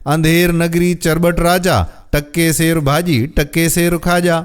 انڌير نگري چرٻٽ راجا، ٽڪي سير ڀاڄي، ٽڪي سير کاڄا.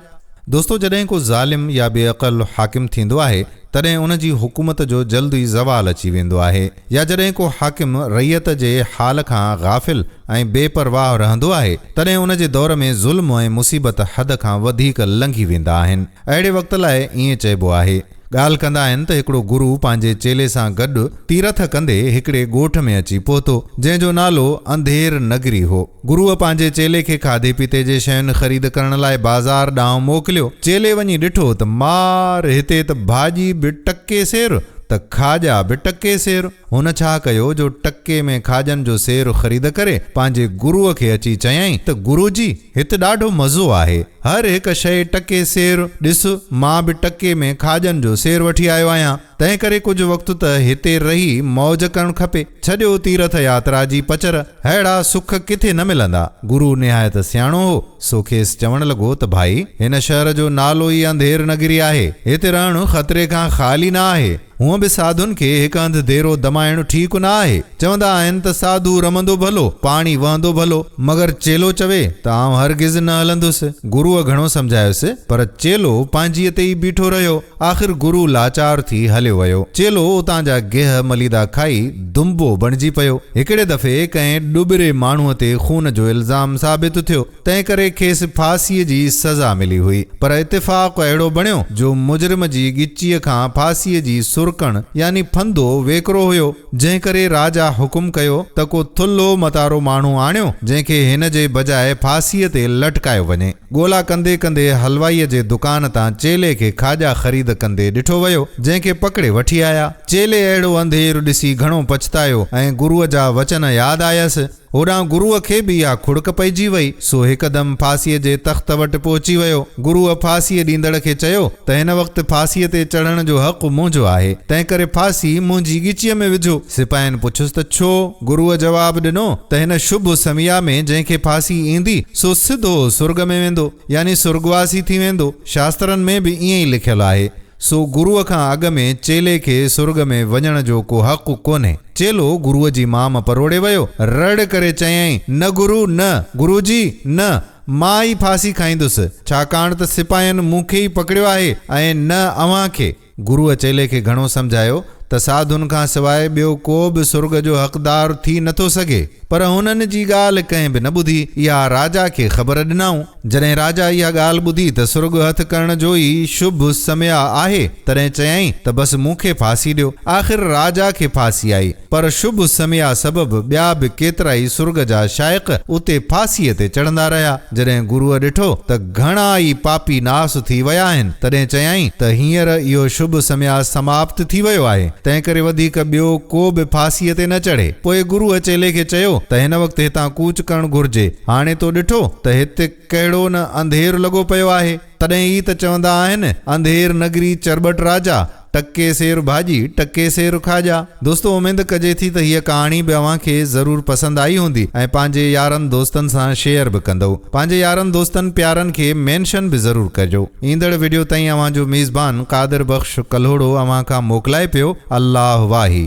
دوستو جڏهن ڪو ظالم يا بي عقل حاڪم ٿيندو آهي تڏهن ان جي حڪومت جو جلد ئي زوال اچي ويندو آهي يا جڏهن ڪو حاڪم رعيت جي حال کان غافل ۽ بي پرواهه رهندو آهي تڏهن ان جي دور ۾ ظلم ۽ مصيبت حد کان وڌيڪ لنگهي ويندا آهن اهڙي وقت لاء ائين چئبو آهي ڳالهه ڪندا آهن ته هڪڙو گرو پنهنجي چيلي سان گڏ تيرٿ ڪندي هڪڙي ڳوٺ ۾ اچي پهتو، جنهن جو نالو انڌير نگري هو. گروء پنهنجي چيلي کي کاڌي پيتي جي شين خريد ڪرڻ لاء بازار ڏانهن موڪليو. چيلي وڃي ڏٺو ته مار! هتي ته ڀاڄي به ٽڪي سير ته کاڄا به ٽڪي سير. هن ڇا ڪيو جو ٽڪي ۾ کاڄن جو سير خريد ڪري پنهنجي گروء کي اچي چيائين ته گرو جي! هت ڏاڍو مزو آهي هر هڪ شئي ٽڪي سير ڏس مان به ٽڪي ۾ کاڄن جو سير وٺي آيو آهيان تنهن ڪري ڪجهه وقت ته هتي رهي موج ڪرڻ کپي ڇڏيو تيرٿ ياترا جي پچر ههڙا سک ڪٿي نه ملندا گرو نهايت سياڻو هو سو کيس چوڻ لڳو ته ڀائي هن شهر جو نالو ئي انڌير نگري آهي هتي رهڻ خطري کان خالي نه آهي هونء به ساڌن کي هڪ هنڌ ديرو دمائڻ ٺيڪ نه آهي. چوندا آهن ته ساڌو رمندو ڀلو، پاڻي وهندو ڀلو. مگر چيلو چوي ته آئون هرگز نه هلندس. گروء گهڻو سمجهايس، پر چيلو پنهنجيء تي ئي بيٺو رهيو. آخر گرو لاچار ٿي هليو ويو. چيلو اتان جا گيهه مليدا کائي دنبو بڻجي پيو. هڪڙي دفعي ڪنهن ڏٻري ماڻهوء تي خون جو الزام ثابت ٿيو. تنهن ڪري کيس ڦاسيء جي سزا ملي هئي، پر اتفاق اهڙو بڻيو جو مجرم جي ڳچيء کان ڦاسيء جي سرڪڻ يعني ڦندو ويڪرو هيو، جنهن ڪري راجا حڪم ڪيو ته ڪو ٿلهو متارو ماڻهو آڻيو، جنهن کي هن جي بجاء ڦاسيء تي لٽڪايو وڃي. ڳولا ڪندي ڪندي حلوائيء جي دڪان تان چيلي کي کاڄا خريد ڪندي ڏٺو ويو، جنهن کي پڪڙي وٺي آيا. چيلي اهڙو انڌير ڏسي گهڻو پڇتايو ۽ گروء جا وچن ياد آيس. هوڏانهن گروء کي به اها کڙڪ پئجي وئي، سو هڪدم ڦاسيء جي تخت وٽ پهچي ويو. گروء ڦاسيء ڏيندڙ کي چيو ته هن وقت ڦاسيء تي چڙهڻ جو حق منهنجو آهي، تنهنڪري ڦاسي منهنجي ڳچيء ۾ وجهو. سپاهين پڇيس ته ڇو؟ گروء جواب ڏنو ته هن شڀ سميا ۾ جنهن کي ڦاسي ايندي، سو سڌو سرڳ ۾ ويندو، يعني سرڳواسي ٿي ويندو. شاسترن ۾ به ائين ئي لکيل آهي. سو گروء کان اڳ ۾ چيلي کي سرڳ ۾ وڃڻ جو ڪو حق ڪونهي. چيلو گروء جي مام پروڙي ويو. رڙ ڪري چيائين، نه گرو، نه! گرو جي، نه! مان ئي ڦاسي کائيندس. ڇاڪاڻ ته سپاهين مون کي ئي پڪڙيو آهي ۽ نه اوهان کي. گروء چيلي کي گهڻو سمجهايو. ته ساڌن کان سواء ٻيو ڪو به سرڳ جو حقدار ٿي نه ٿو سگهي. پر هنن جي ڳالهه ڪنهن به نه ٻڌي. اها راجا کي خبر ڏنائون. جڏهن راجا اها ڳالهه ٻڌي ته سرڳ هٿ ڪرڻ جو ئي شڀ سميع آهي، تڏهن چيائين ته بس مون کي ڦاسي ڏيو. آخر راجا کي ڦاسي آئي. پر شڀ سميع سبب ٻيا به ڪيترائي سرڳ جا شائق اتي ڦاسيء تي چڙهندا رهيا. جڏهن گروء ڏٺو ته گهڻا ئي پاپي ناس ٿي ويا آهن، تڏهن چيائين ته هينئر اهو شڀ سميا سماپت ٿي ويو آهي، تنهنڪري وڌيڪ ٻيو ڪو به ڦاسيء تي نه چڙهي. پوء گروء چيلي کي چيو ته هن وقت هتان ڪوچ ڪرڻ گهرجي. هاڻي تو ڏٺو ته هت ڪهڙو نه انڌير لڳو پيو آهي. تڏهن ئي ته چوندا آهن انڌير نگري چرٻٽ راجا، ٽڪي سير ڀاڄي، ٽڪي سير کاڄا. دوستو اميد ڪجي ٿي ته هيء ڪهاڻي به اوهان کي ضرور پسند آئي هوندي ۽ پنهنجي يارن دوستن سان شيئر به ڪندئو. پنهنجي يارن دوستن پيارن کي مينشن به ضرور ڪجو. ايندڙ وڊيو تائين اوهان جو ميزبان قادر بخش ڪلهوڙو اوهان کان موڪلائي پيو. الله واهي.